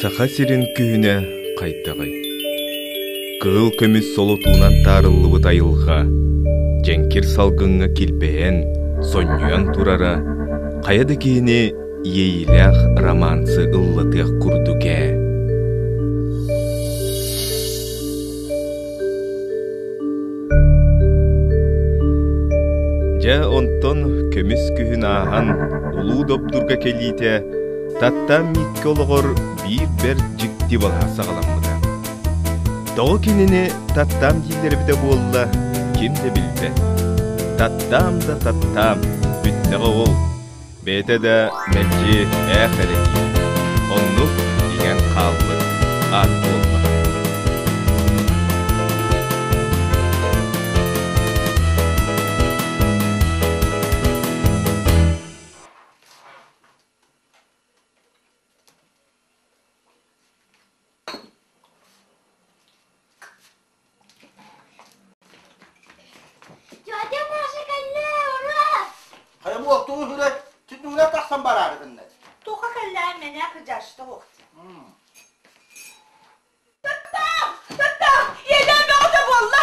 Саха сирин күһүнэ хайдаҕый? Кыһыл көмүс солотуунан таарыллыбыт айылҕа дьэҥкир салгыҥҥа килбэйэн, сонньуйан турара хайа да киһини иэйиилээх романсы ыллатыах курдук ээ. Дьэ онтон көмүс күһүн ааһан улуу Добдурга кэлиитэ Таттаан Мииккэ олоҕор биир бэрт дьикти балаһа саҕаламмыта. Тоҕо кинини Таттаам дииллэр эбитэ буолла, ким да билбэт. Таттаам да Таттаам, бүттэҕэ ол. Бэйэтэ да мэлдьи ээх эрэ диир, оннук иҥэн хаалбыт аат буолла. Тетя Маша, кэллэ, ура! Хайа буол, тугу үһүрэй? Түннүгүнэн тахсан бараарыгынна. Туха кэллэ, мене кыдьашта уохти. Таттаам! Таттаам! Ийэлээн бөҕөтө буолла!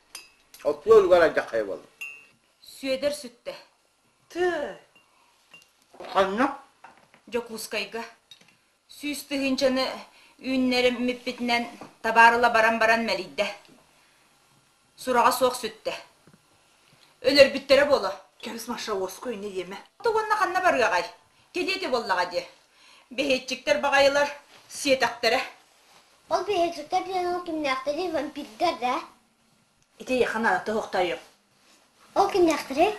Оттуо үлүгэр алдьаххайа буол. Сүөдэр сүттэ. Тыы! Ханна? Дьокуускайга. Сүүс тыһыынчаны үүннэриммиппитинэн табаар ыла баран баран мэлийдэ. Сураҕа суох сүттэ. Өлөрбүттэрэ буолуо. Кэбис Машаовскую не иэмэ. Оттук уонна ханна барыаҕай? Кэлиэ этэ буоллаҕа дии. Бэһиэччиктэр баҕайылар сиэтэхтэрэ. Ол пиһачуттар диэн ол кимнээхтэрий, вампирдар да? Ити эйиэхэ наада тоһохтойуом. Ол кимнээхтэрий?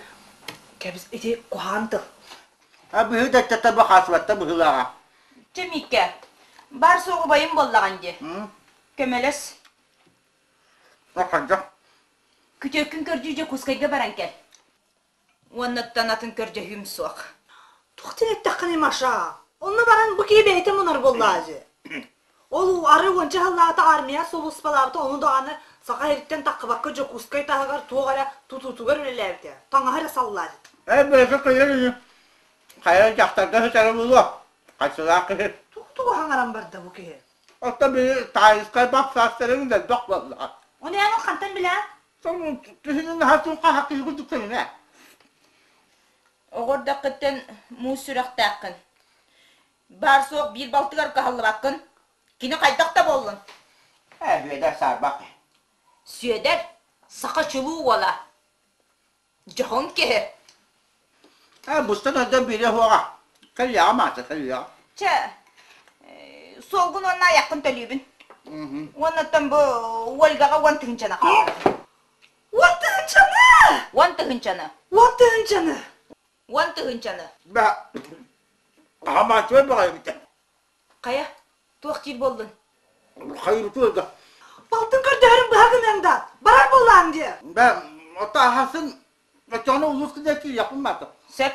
Кэбис, ити куһаҕан тыл. А быһыы да өттө таба хаасыбатта быһыылааҕа. Чэ, Мииккэ, баар суоҕубайым буоллаҕыҥ дии. Көмөлөс. О, хайдах? Күтүөккүн көрдүү Дьокуускайга баран кэл. Уоннаттан атын көрдөһүүм суох. Тухтан эттэххинэ, Маша, онно баран бу киһи бэйэтэ мунар буоллаа дьэ. Ол арай уонча сыллаата армия сулууспалаабыта, ону даҕаны саха иһиттэн таххыбакка Дьокуускай таһыгар туох эрэ тутуутугар үлэлээбитэ, таҥаһа эрэ саллаат. Эр бэйэтэ кыйар үһү. Хайа дьахтарга сытары булуо? Хайсылаах киһи. Тук-тук хаҥаран барда бу киһи. Оттон били таайыскай бах саастарыҥ да элбэх буоллаҕа. Ону ээҥин хантан билэҕин? Киһини наһаа турхаһа киһи курдук көрүҥэ. Оҕордоххыттан муус сүрэхтээххин. Баар-суох биир балтыгар кыһаллыбаккын. Кини хайдах да буоллун? Ээ, Бүөдэр саарбах. Сүөдэр, саха чулуу уола. Дьоһун киһи. Э, бустан өлдө биирэ хуоҕа. Кэллиэҕэ маата, кэллиэҕэ. Чэ, э, суолгун уонна айаххын төлүүбүн. Уоннаттан бу Ольгаҕа уон тыһыынчаны хаалар. Уон тыһыынчаны! Уон тыһыынчаны! Уон тыһыынчаны! Уон тыһыынчаны! Бэ, хаһан бааччыбай бөҕөйгүтэ? Хайа, туох диир буоллун? Хайбытыгар да. Балтын көрдөһөрүм быһа гыныаҥ да, барар буоллаҕыҥ дии. Бэ, ото аһасын, оччоҕуна улууска да киириэхпин бата. Сөп.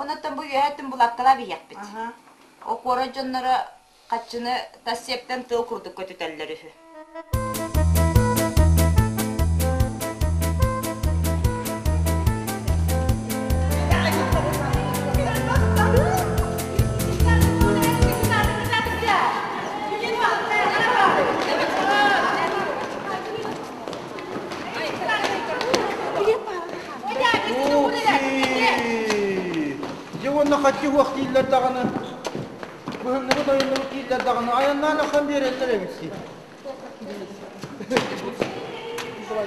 Оннуттан бу үөһэ өттүн булааккалаан иһиэхпит. О куорат дьонноро хаччыны тас сиэптэн тыал курдук көтүтэллэр үһү. Дьэ уонна хаччы уох дииллэр даҕаны быһынныбыт ойуннубут дииллэр даҕаны айаннаан аххан биэрэллэр эбит сии Давай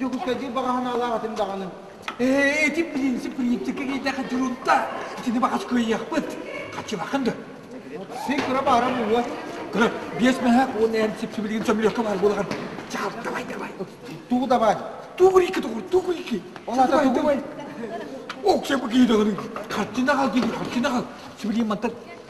Дьокуускайдыы баҕаһын аалаах этим даҕаны. Э, эти принцип принципке киирдэхэ дурутта. Итини баҕас кыайыахпыт. Хаччыбакын да. Син кыра баара буолуо. Кыра биэс мэһэ уон эн сипсибилигин сөмүлүөккэ баар буоларын. Чаал, давай, давай. Тугу давай? Тугу икки тугу? Тугу икки? Олата тугу? Оксай bu kıyıdaların. Kaççına kal gidi, kaççına kal. Sibiriyim mantar.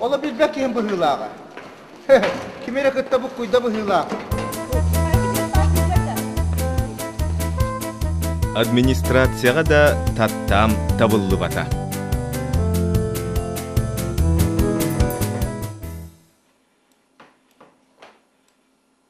Ола билбэт киһим быһыылааҕа. Ким эрэ кытта буккуйда быһыылаах. Администрацияҕа да таттаам табыллыбата.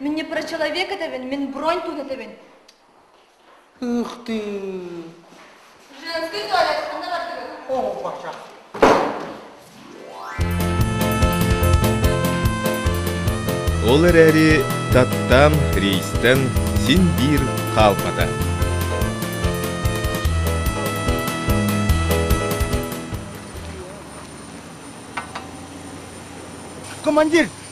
Мин не про человека дэбин, мин бронь тута дэбин. Ух ты! Женский туалет, анда бардыгын. О, баша. Ол эрээри Таттан, рейстен син биир хаалбата. Командир,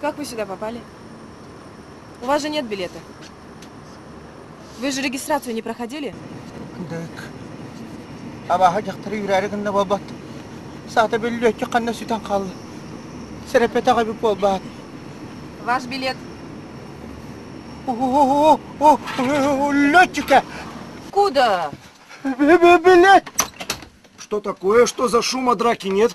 Как вы сюда попали? У вас же нет билета. Вы же регистрацию не проходили? Дык. Абаха дьахтары үрээри гынна буолбат. Саата бөллүөтчү ханна сүтэн хаалла. Сэрепетэх эби буолбаат. Ваш билет. Летчика! Куда? Билет! Что такое? Что за шум, а драки нет?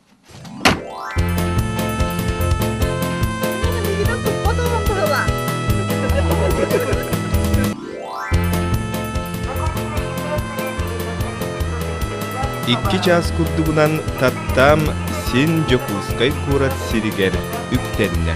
Икки чаас курдугунан Таптам син Дьокуускай куорат сиригэр үктэннэ.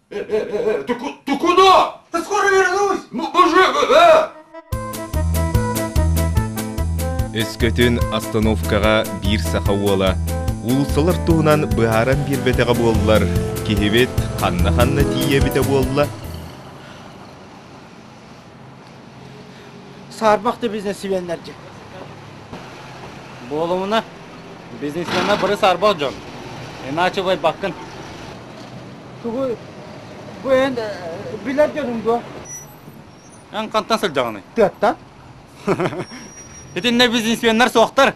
Тукуно! Ты скоро вернусь! Өскөтүн остановкаҕа биир саха уола уулуссалар туһунан быһааран биэрбэтэҕэ буоллар, киһибит ханна-ханна тиийэ эбитэ буолла? Саарбахты бизнесменнердик. Буолумуна, бизнесмена бары саарбах дьон. Иначе байбаккын. Тугу бу эн билер дьонум дуо? Эн қантан сылдьаҕыный? Тыаттан? Итиннэ бизнесменнер суохтар.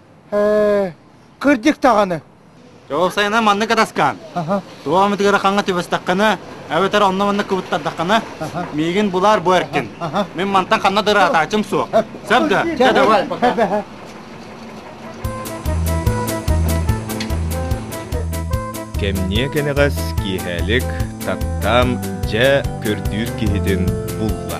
Ээ, кырдьык даҕаны. Уопсайынан маннык катаскаан. Туох эмит ыарахаҥҥа түбэстэххинэ, эбэтэр онно-манна кыбыттардаххына, миигин булаар бу эркин. Мин мантан ханна да ыраатаачым суох. Сөп да? Давай, пока. Кэмниэ кэнэҕэс киэһээлик Таптаам дьэ көрдүүр киһитин булла.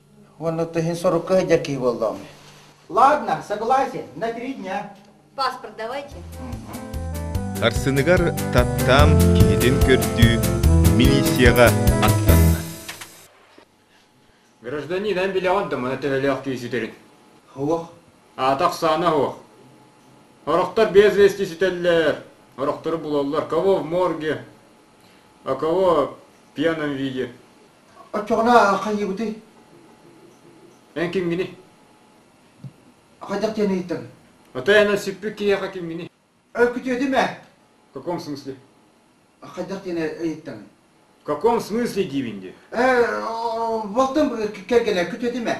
Уонна ты иһин сорукка сылдьар киһи буоллаҕым. Ладно, согласен, на три дня. Паспорт давайте. Сарсыныгар Таттаам киһитин көрдүү милицияҕа аттанна. Гражданин, эн билэ оттомо, төһөлөөх киһи сүтэрин. Уох. Аатах саана уох. Орохтор без вести сүтэллэр. Орохтору булаллар. Кого в морге, а кого в пьяном виде. Оччоҕуна хайыыбытый? Эн кимгиний? Хайдах диэн ыйыттыҥ? Отой аны сүппүт киһиэхэ кимгиний? Өкүтүөтүм ээ. В каком смысле? Хайдах диэн ыйыттыҥ? В каком смысле диибин дии? Ээ, буолтум кэргэнэ, күтүөтүм ээ.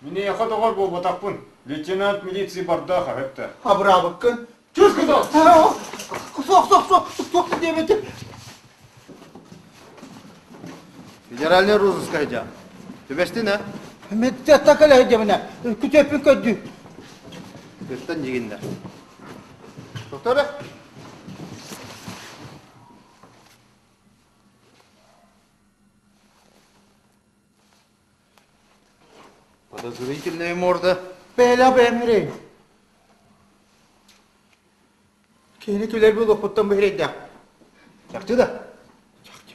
Миниэхэ доҕор буолбатахпын, лейтенант милиции барда хаһыатта. Абыраабыккын. Чуус кутуох. Суох, суох, суох, суох диэбэтим. Федеральный розыска идя. Түбэстин, э? Мэдде атака лэһи дэминэ. Күтөппүн көрдүү. Күттэн дигиннер. Докторе? Подозрительная морда. Бэйэлээх бэйэм мирэй. Кини күлэр булуохпуттан быһырэйдээх. Чахчы да? Чахчы.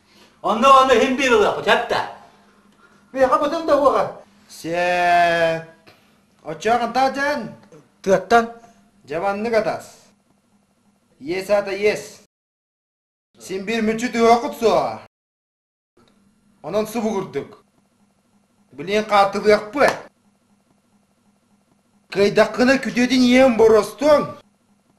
Онно онно иһин биир ылыахпыт эттэ. Биһиэхэ бытын да уоҕа. Сиэт. Оччоҕунта дьэн. Тыаттан. Дьабаннык атас. Иэс аата иэс. Син биир мүччү түһүөххүт суоҕа. Онон субугурдук. Билин хаартылыахпыт. Кыайдаххына күтүөтүн иэм боростуҥ.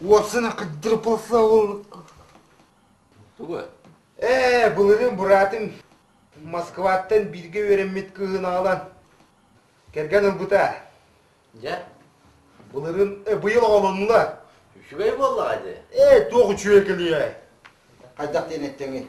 Уопсана кыдырпаса ол... Тугу? Ээ, былырын быраатым Москваттан бииргэ үөрэммит кыыһын аҕалан кэргэн ылбыта. Дьэ? Былырын быйыл оҕолоннулар. Үчүгэй буоллаҕа дии. Ээ, туох үчүгэй кэлиэй? Хайдах диэн эттэҥий?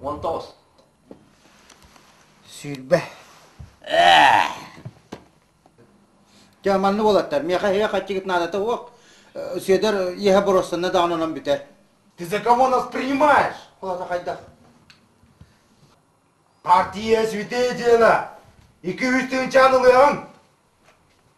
Уон тоҕус. Сүүрбэ. Дьэ, манны болатар. Миэхэ эһэ хаччыгыт наадата уох. Сүөдэр иэһэ боруостанна даҕан онон бүтэр. Ты за кого нас принимаешь? Холата хайдах? Партия свидетеля! Iki üç tığın çağın ılıyan!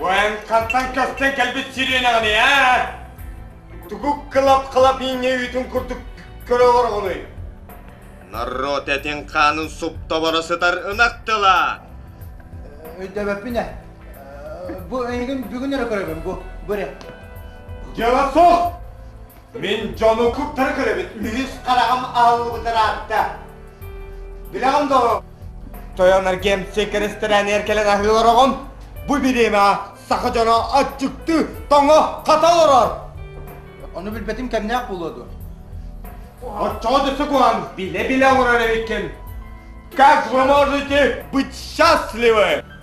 Военкаттан көстөн кэлбит сиренэҕини ээ! Тугу кылап-кылап инньэ үүтүн курдук көрө олороҕунуй? Народ этин хаанын суптабара сытар ынах тыла! Өйдөбөппүн ээ. Бу эйигин бүгүн эрэ көрөбүн бу. Бу эрэ. Дьыала суох! Мин дьону куттары көрөбүт, үһүс хараҕым аһыллыбытын аатта. Билэҕин доо? Тойонаргем секресторээнигэр кэлэн аһыы олороҕун. Бу бириэмэҕэ саха дьоно аччыктыы, тоҥо, хата олорор. Ону билбэтим кэмнээх буолуо дуо? Оччоҕо дөссө куһаҕан, билэ-билэ олорор эбиккин. Как вы можете быть счастливы?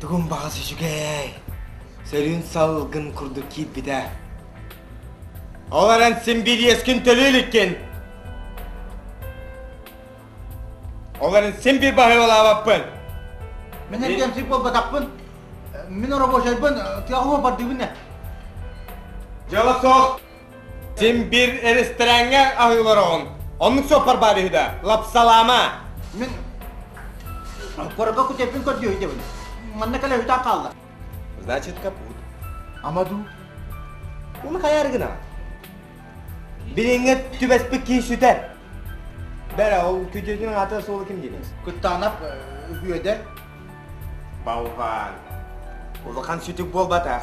Тугун баҕас үчүгэй. Сөрүүн салгын курдук киирбитэ. Ол эрэн син бириэскин төлүү иликкин. Ол эрэн син bir баһыылаабаппын. Мен эргэмсик болбатаппын. Мен рабочайбын, тыаһыма бардыгын не? Дьыала суох. Син биир ресторааҥҥа аһыылар оҕун. Оннук суоппар баар үһү да, лапсалаама. Мин корабка кутеппин көрдүө үһүдэбин. Манна кэлэ үтään хаалла. Значит, капут. Ама дуу? Bunu kayar gına. Билиҥҥэ түбэспит киһи сүтэр. Бэрэ ол күдьэтин аты суолу ким димес. Куттаанап үөдэр. Бауван. Улахан сүтүк буолбатах.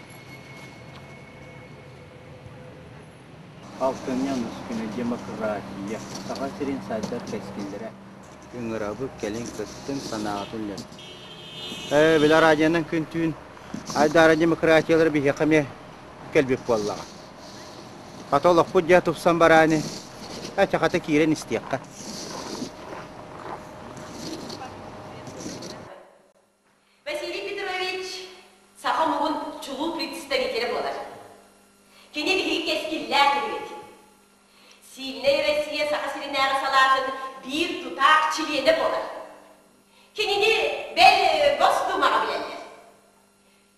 Алтынньы Онускина демократия Саха сирин сайдар кэскиллэрэ Ыҥырабыт кэлин кыттыҥ санааҕытын үллэстиҥ Э, Билэр радионан күн-түүн айдаара демократиялар биһиэхэ эмиэ кэлбит буоллаҕа. Хата олохпут дьэ тупсан барааны чахата киирэн истиэххэ. Василий Петрович саха омугун чулуу представителэ буолар. Кини биһиги кэскиллээх киһибит. Сильнэй Россия Саха сиринээҕи салаатын биир тутаах чилиэнэ буолар. Кинини, бэл, Госдумаҕа билэллэр.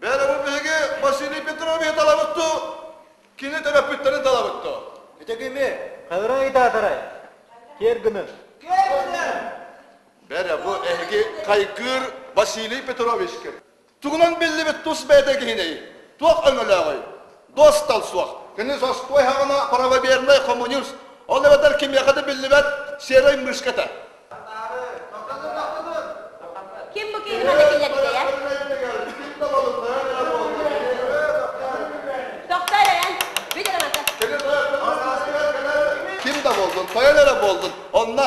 Бэйэлэрин биһиги Василий Петровиһы талабытту, кини төрөппүттэри талабытту. Ити кими? Хавра айдаатарай? Киэргүнү? Киэргүнү! Бэрэ бу эһиги хайгыыр Василий Петровичкыт. Тугунан биллибит тус бэйэтэ киһинэй? Туох өҥөлөөҕүй? Дуостал суох. Кини зостой һаҕана правовернай хомуньуус, ол эбэтэр кимиэхэ да биллибэт серой мышка этэ. Ким бу киһини манна киллэрбитэйэ? Тохтоор эрэн, бүт эрэ манта. Ким да болдун, тойон эрэ болдун. Онно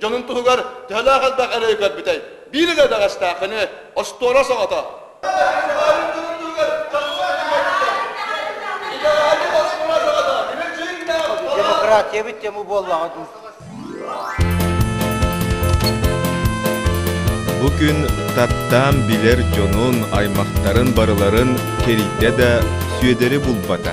дьонун туһугар төһөлөөх элбэх эрэйи көрбүтэй? Биир илэ бэҕэстээххини, остуола соҕото. Демократиябыт тему буоллаҕа дуу? Бу күн таптаан билэр дьонун, аймахтарын барыларын кэрийдэ да Сүөдэри булбата.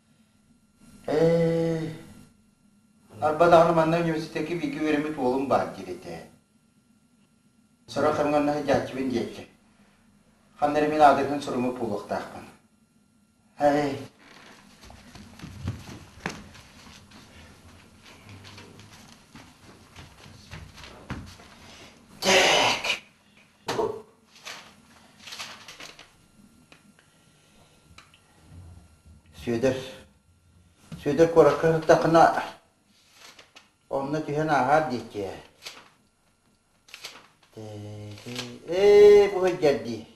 Ээ, арба даҕаны манна университекка бииргэ үөрэммит уолум баар диир этэ. Сорох хамҥанна сыдьааччыбын диэччи. Ханна эрэ мин аадырыһын суруумут буолуохтаахпын. Ай, дьэк. Сүөдэр Сүөдэр куоракка сырдаххына онно түһэн ааһаар диэччи ээ. Ээ бу сылдьар дии.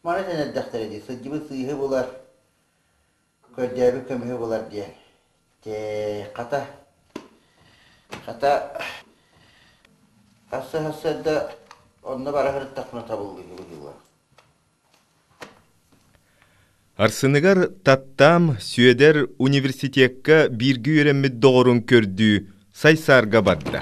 Маны сэнэрдэхтэрэ дии, сылдьыбыт сыыһы булар. көрдөөбүт көмүһү булар диэн. Тээ, хата, хата, assa-assa онно бара сырыттахпына табыллыыбыт дуо? Арсыныгар Таттаам Сүөдэр университекка бииргэ үөрэммит доҕорун көрдүү Сайсаарга барда.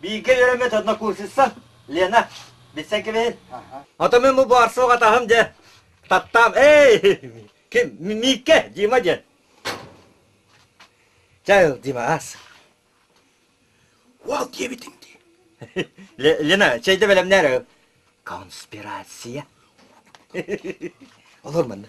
Бииргэ үөрэммит однокурсница Лена, билсэн кэбиһин. Атамын бу баар суох атаһым дьэ. Таттаам, эй! Ким? Миикке, Дима диэн. Чайл, Димас. Уал диэбитиҥ дии. Лена, чэйдэ бэлэмнээр. Конспирация. Олор манна.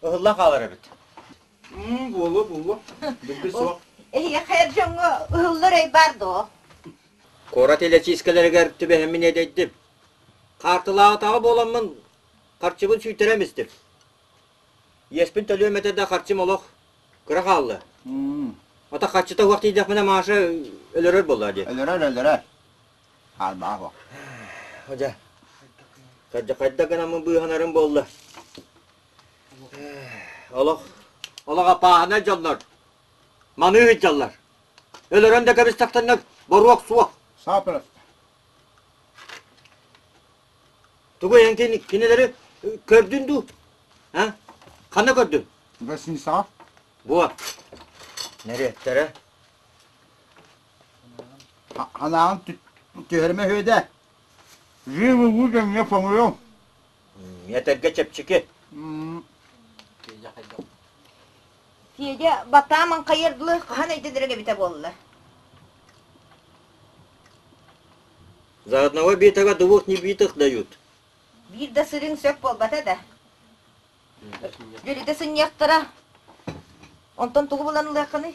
Ыһылла хаалар эбит. Буолуо, буолуо. Билби суох. Эһиэхэ эр дьоҥҥо ыһыллар өй баар дуо? Куорат илэчиискэлэригэр түбэһэммин иэдэйдим. Хаартылаатаҕа буоламмын, харчыбын сүйтэрэн истим. Иэспин төлүөм этэ да харчым олох кыра хаалла. Ата харчыта уох тиийдэхпинэ Маша өлөрөр буоллаа дии. Өлөрөр, өлөрөр. Аарбаҕа Дьэ, хайдах гынан быыһанарым буолла? Олох олох аппааһынай дьоннор маны ыһыддьаллар. Өлөрөн да кэбистахтаннар боруок суох. Сапыраста. Тугу эн кини, кинилэри көрдүн дуу? А? Ханна көрдүн? Гостиницаҕа. Буо. Нэриэттэрэ. Анаҕын түһэрмэ үһүөдэ. Жив-уву кэмҥэ хомуйуҥ. Этэргэ чэпчэки. Федя, батааман хайардылы хаһан өйдөнөрүн эбитэ буолла? За одного битого двух небитых дают. Биир да сырыыҥ сөп буолбата да. Дөлүтэ сынньыахтара. Онтон тугу булан ылыаххыный?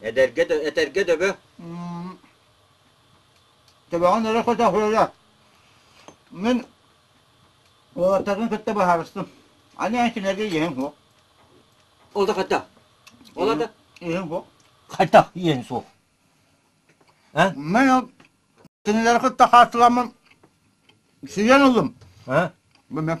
Эдэргэ, этэргэ дөбө. Төбөҕүн өрө көтөх ыра. Мин уолаттарын кытта баһаарыстым. Аны эн кинигэ иэһиҥ суох. Ол да хата. Ол да иэһиҥ суох. Хата иэһин суох. Эн? Мен ол кинилэри кытта хааччыламмын сүйэн ыллым. ඈ? Бу мен.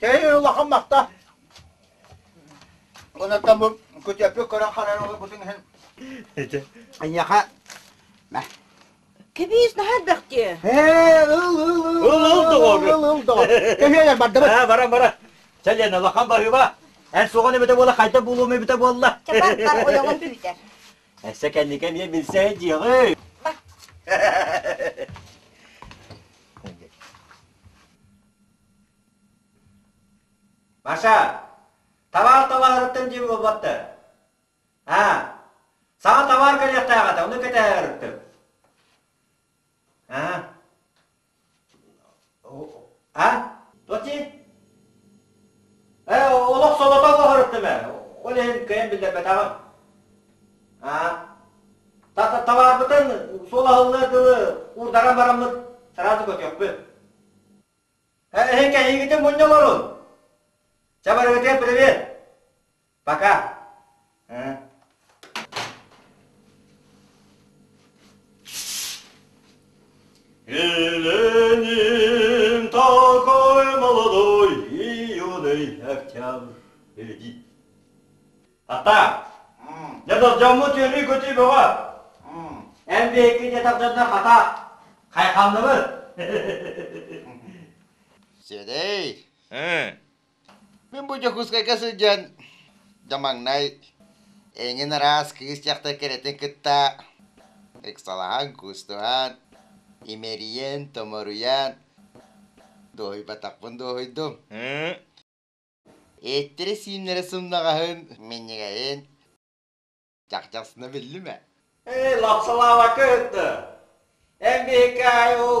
Кэһэ улахан махта. Онуттан бу күтөппү көрөн харарылы бутун иһин. Эдэ. Айаха. Кэбиис наһаа бэхтиэ. Ээ, ыл, ыл, ыл. Ыл, ыл, доҕоор. Ыл, ыл, доҕор. Кэһиэ бардыбыт. Аа, бара, бара. Чэлен, улахан барыыба. Эн соҕон эбэтэ буола хайда булуум эбэтэ буолла. Чабаттар ойоҕун түүтэр. Эссе кэнники эмиэ билсэһи дьиэҕи. Маша, табаар табаһыттан диэн буолбаттар. Аа, саҥа табаар кэлиэхтээх этэ, ону кэтэһэр ырытык. Аа. А? Тоти? Э, олох солото оһырыттым э. Ол иһин кыйын биллэрбэтэҕим. Аа. Табаарбытын суолаһыллар дылы уурдаран бараммыт сразу көтүөхпүт. Эһи кэһиигитин мунньа олорун. Чэ, барыгытыгар привет. Пока. Ленин такой молодой, юный октябрь, иди. Хата, дьэ дордьоммут үөрүү-көтүү бөҕө. Эн биһикки дьэ тардынна хата. Хайханныбыт? Сиэдэй, Ээ, мин бу Дьокуускайга сылдьан дьэ маҥнай эҥин араас кыыс дьахтар кэрэтин кытта ыксалаһан, куустубан, имэрийэн, томоруйан дуоһуйбатахпын дуоһуйдум. ee, Эттэрэ-сииннэрэ сымнаҕаһын, минньигэһин дьахдьахсына биллимэ Ээ, лапсалааба кыһытты. Эн биһикки аайы ол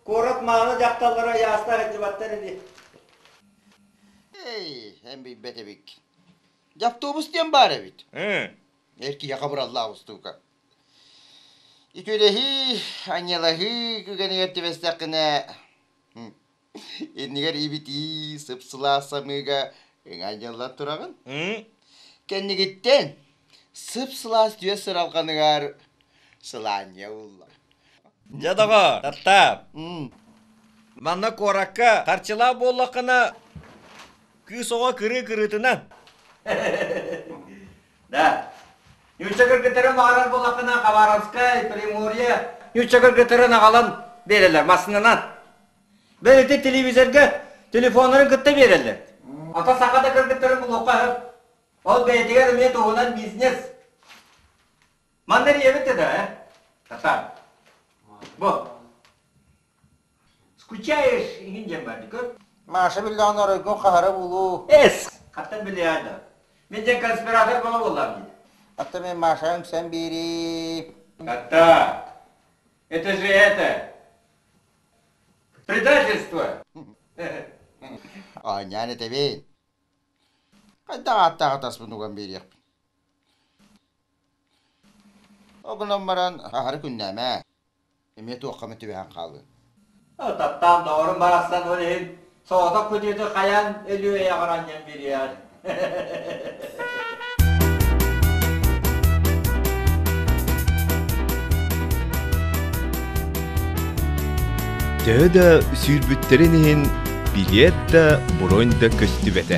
куорат маалы дьахталлара айаастар сылдьыбаттар ини. Эй, эн билбэт эбик. Дьавтобус диэн баар эбит. Ыы, эр киһиэхэ бураллаах устуука. Үтүөлэһии, анньалаһыы күгэнигэр түбэстэххинэ, иннигэр ибитии сыпсылаас самыыга ыҥа дьалла тураҕын кэннигиттэн сып-сылаас түөс сыралҕаныгар сылаанньа ууллар дьэ доҕо таптаап манна куоракка харчылаах буоллаххына кыыс оҕо кырыы кырыытынан Да. Нүүччэ кыргыттарын баҕарар буоллаххына, Хабаровскай, Приморье. Нүүччэ кыргыттарын аҕалан биэрэллэр массыынанан. Бэл ити телевизорга телефоннарын кытта биэрэллэр. Ата саха да кыргыттарын булуохха сөп. Ол бэйэтигэр эмиэ туһунан бизнес. Манна эрийэбит да да, э? Татар. Бу. Скучаешь, иһин диэн бардыкы. Маша биллэҕин оройгун хаһара булуу. Эс! Хаттан биллиэдэ. Мен ден конспиратор бола боллам дии. Атта мен Маша үҥсэн биэрии. Хатта! Это же это! Предательство! Оонньаан этэбин. Хайдах ааттаах атаспынуган биэриэхпин. Обунан баран аһары күннээмэ. эмиэ туохха эмэ түбэһэн хаалыын. Ытаттаан доҕорум барахсан ол иһин соҕотох күтүөтү хайаан Өлүөй аҕар анньан биэриэҕин. Төһө да сүүрбүттэрин иһин билиэт да бронь да көстүбэтэ.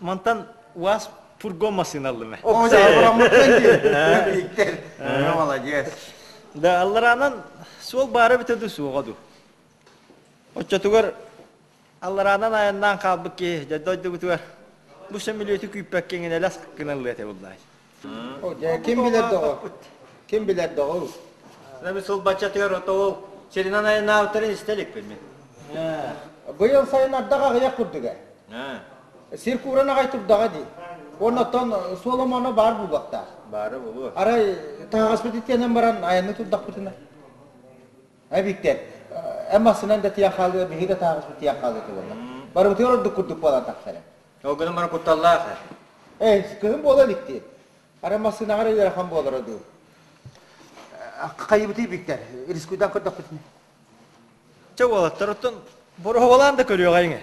Мантан УАЗ фургон массыыналлыма. О, молодец. Да аллараанан суол баара бүтө да суоҕа ду. Оччотугар аллараанан айаннаан хаалбыт киһи дьэ дойдубутугар бу сөмүлүөтү күүппэккэ иҥинэлэс гыналлыа этэ буллаай. Ким билэр доҕо? Ким билэр доҕу? Наби сылбаччатыгар ото ол сиринэн айанаабыттарын истэ иликпин мин. Быйыл сайын ардах аҕыйах курдуга. Сир кууран аҕай турдаҕа дии. Уонна оттон Соломоно баар буолуохтаах. Бары булуо. Арай таһаҕаспыт итиэнэн баран айаны турдахпытына. Эбиттэр. Эн массынан да тиийэн хаалыа, биһи да таһаҕаспыт тиийэн хаалыа туолла. Барыбытыгар ордук курдук буолан тахсара. Ол гынан баран кутталлаах ээ. Ээ, кыһын буола илик дии. Ара массыынаҕар ыарахан буолара дуу. Хайыбытый биктэр, рискуйдан көрдөхпүтүнэ. Чэ уолаттар, оттон Бороһовалаан да көрүөҕэҥ ээ.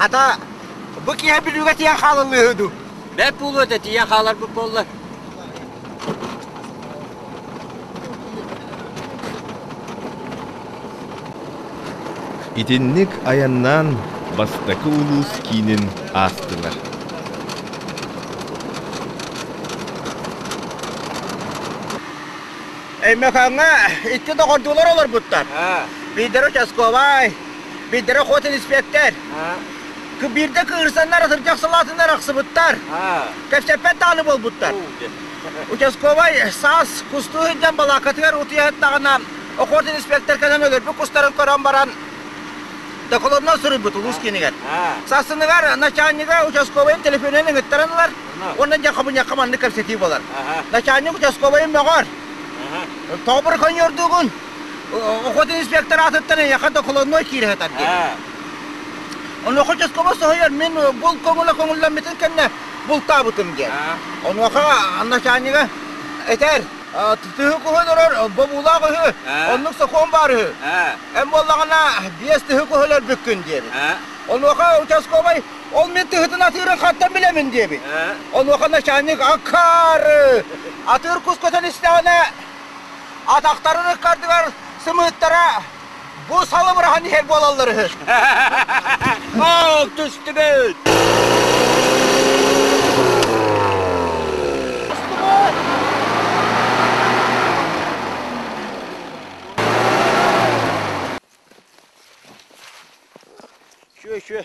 Хата, бу киһи бүлүүгэ тиийэн хаалыллыыһы ду. Бэп пулута тиийэн хааларбыт боллар. Итинник айаннаан бастакы улуус киинин аастылар. Эймэхэҥҥэ икки доҕордуулар олорбуттар. Биирдэрэ участковай, биирдэрэ ход инспектор. Биирдэ кыырсаннар сырдьах салаатыннар ахсыбыттар. Кэпсэппэт дааны буолбуттар. Участковай саас кустуу сылдьан балааккатыгар утуйаһыттаҕына, окуорт инспектор кэлэн өлөрбүт кустарын көрөн баран, докладынан суруйбут улуус киинигэр. Сарсыныгар начальнига участковайын телефонун ыҥыттаран ылар уонна дьэ хабынньахха маннык кэпсэтии буолар. Начальник участковайын мөҕөр. Тоҕобур коньордуугун охот инспектор аатыттан эйиэхэ докладной киирэ сытар диэн. Онуоха участковай соһуйар, мин бұл көҥүлэ көҥүллэммитин кэннэ бултаабытым диэн. Онуоха начальнига этэр, тыһы куһу олорор бобуулаах үһү, оннук сокуон баар үһү. Эн буоллаҕына биэс тыһы куһу өлөрбүккүн диэбит. Онуоха участковай ол мин тыһытын атыырын хаттан билэмин диэбит. Онуоха начальник акаары атыыр кус көтөн истэҕинэ атахтарын ыккардыгар сымыыттара Бу сала бырахан иһэр буолаллар үһү. Ох түстүбүт! Шүө, шүө.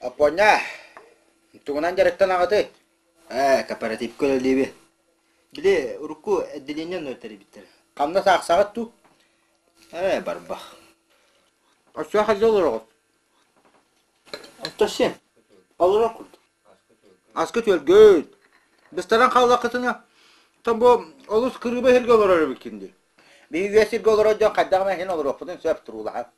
Аппуонньаа, тугунан дьарыктан аҕатый? Ээ, кооперативка үлэлиибин. Били урукку отделениен өртөрүйбүттэр. Хамнас аахсаҕыт дуу? Ээ, барбах. Өссө хадьа олороҕут? Оттон син? Олорор курдук. Аска түөлгөт. Быстаран хааллаххытына, там бу олус кырыыба сиргэ олорор эбиккин дии. Биһиги үйэ сиргэ олорор дьон хайдах эмэ иһин олоруохпутун сөп туруулаһан.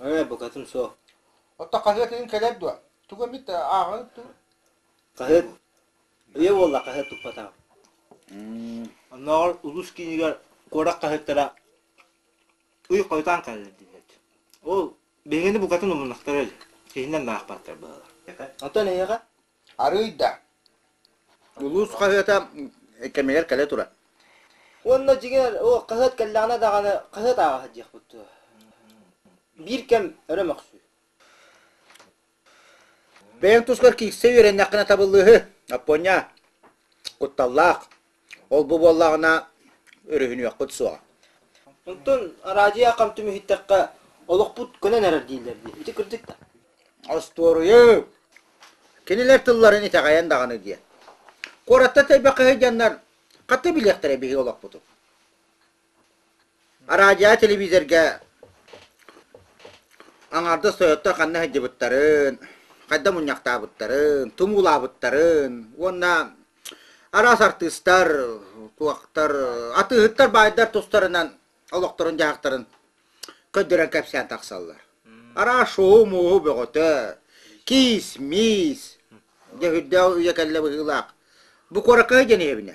Ээ, букатын суох. Оттон хаһыат иһин кэлэр дуо? Тугу эмит ааҕан тур. Хаһыат үйэ буолла хаһыат туппатаҕа. Оннооҕор улус киинигэр куорат хаһыаттара ый хойутаан кэллэр диэбит. Ол биһигини букатын умуннахтара илик. Киһинэн наахпаттар баалар. Оттон эйиэхэ? Арыый да. Улуус хаһыата кэмигэр кэлэ турар. Уонна дьиҥэр о хаһыат кэллэҕинэ даҕаны хаһыат ааҕа сылдьыахпыт дуо? Биир кэм өрө мөхсүү. Бэйэҥ тускар киирсэ үөрэннэххинэ табыллыыһы, Аппуонньаа. Кутталлаах. Ол-бу буоллаҕына, өрүһүнүөхпүт суоҕа. Онтон араадьыйа хам түмүһүттэххэ, олохпут көнөн эрэр дииллэр дии. Ити кырдьык да. Остуоруйу! Кинилэр тылларын итэҕэйэн даҕаны диэн. Куоратта тэйбэххэ сылдьаннар, хата билиэхтэрэ биһиги олохпутун. Араадьыйа телевизорга аҥаардас тойотто ханна сылдьыбыттарын, хайда мунньахтаабыттарын, тумуулаабыттарын уонна араас артыыстар, туохтар, атыыһыттар баайдар тустарынан олохторун-дьаһахтарын көрдөрөн кэпсээн тахсаллар. Араас шоу-мууһу бөҕөтө, киис-миис, дьэ үрдээх үйэ кэллэ быһыылаах. Бу куоракка диэн иһэбинэ.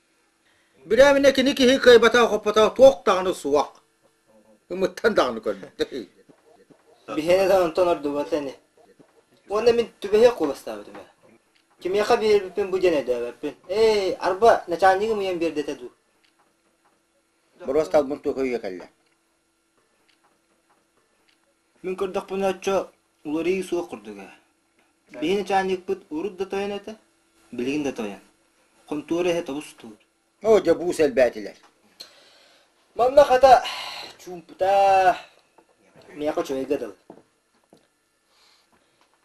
Бүрээминэ кини киһи кыайбатах-оппотох туох даҕаны суох. Ымыттан даҕаны көрбөттө үһү. Биһиэнэ да онтон ордубата ини. Уонна мин түбэһиэх куоластаабытым ээ. Кимиэхэ биэрбиппин бу диэн өйдөөбөппүн. Эй, арба, начальнигым ийэм биэрдэ этэ дуу? Боруосталбын туох өйө кэллэ? Мин көрдөхпүнэ оччо уларыйыы суох курдук ээ. Биһи начальникпыт урут да тойон этэ, билигин да тойон. Хонтуора иһэ тобус-туур. Оо, дьобуус элбээтилэр. Манна хата чуумпута миэхэ үчүгэйгэ дылы.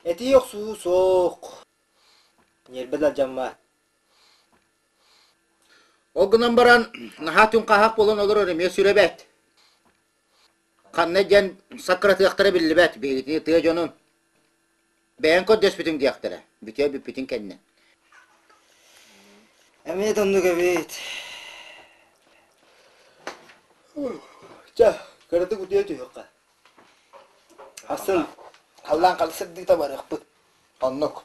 Этии охсуу суох. Ньиэрбэ да дьаммаат. Ол гынан баран, наһаа түҥхаһах буолан олорор эмиэ сүрэ бэт. Ханна диэн саккыратыахтара биллибэт, биһигитини тыа дьонун. Бэйэҥ көрдөспүтүҥ диэхтэрэ, бүтүө бүппүтүн кэннэ. Эмиэ да оннук эбит. Ча, кыратык утуйа түһүөххэ. Ахсын халлаан хара сырдыыта барыахпыт. Оннук.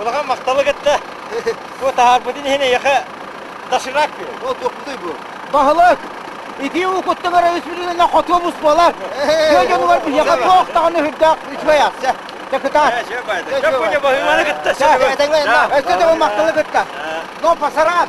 Улахан махталы кытта бу таһаарбытын иһин эйиэхэ доширак биэрэн. Ол туохпутуй бу? Баһылык, ити уукуттан эрэ үсүрүөнэ хотуобус буолар. Тыа дьонугар биһиэхэ туох даҕаны үрдээх үчүгэйэ. Дьокутаат. Чэ, баайда. Чөккүнэ баһыыманы кытта. Чэ, бэйэтиҥ уонна. Өссө да махталы кытта. Но пасарат.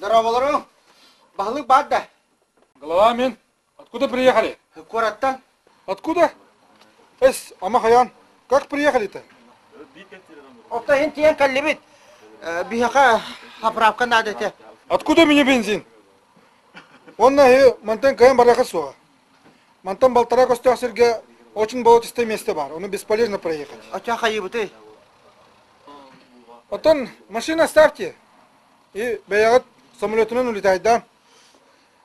Дорооболору! Баһылык баар да? Глава мин. Откуда приехали? Куораттан. Откуда? Эс, ама хайаан, как приехали-то? Опта иһин тиэн кэллибит. Биһаха оправка надо этэ. Откуда мне бензин? Онна эһи мантан кайын бараха суоҕа. Мантан балтара көстөөх сиргэ очень болотистое место бар. Ону бесполезно проехать. Оча хайыбыты. Оттон машина ставьте. И бэйэҕит самолетунан улетайда.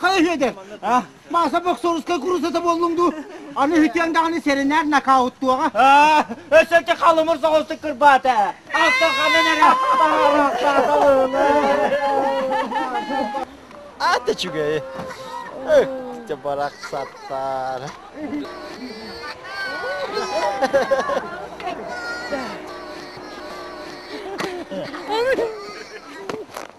Хай үһүөдэр, мааса боксорускай курусата боллуҥ дуу? Аны үһүтүөн даҕаны сэрэнээр нокауттуоҕа. Өссөккө халымыр соҕустук кырбаата. Аттан ханан эрэ Аата үчүгэй. Өттө барахсаттар.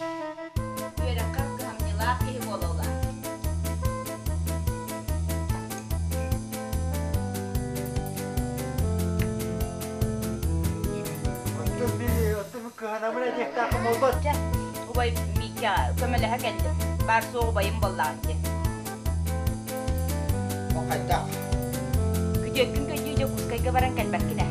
Үөрэххэ кыһамньылаах киһи буолаллар. Оттон били, оттон кыһанамын этиэхтээххэ буолбат. Дьэ, убай Миикэ көмөлөһө кэллим. Баар-суох убайым буоллаҕа диэн. Ол хайдах? Күтүөккүн көйдүү дьэ Кускайга баран кэлбэккин ээ.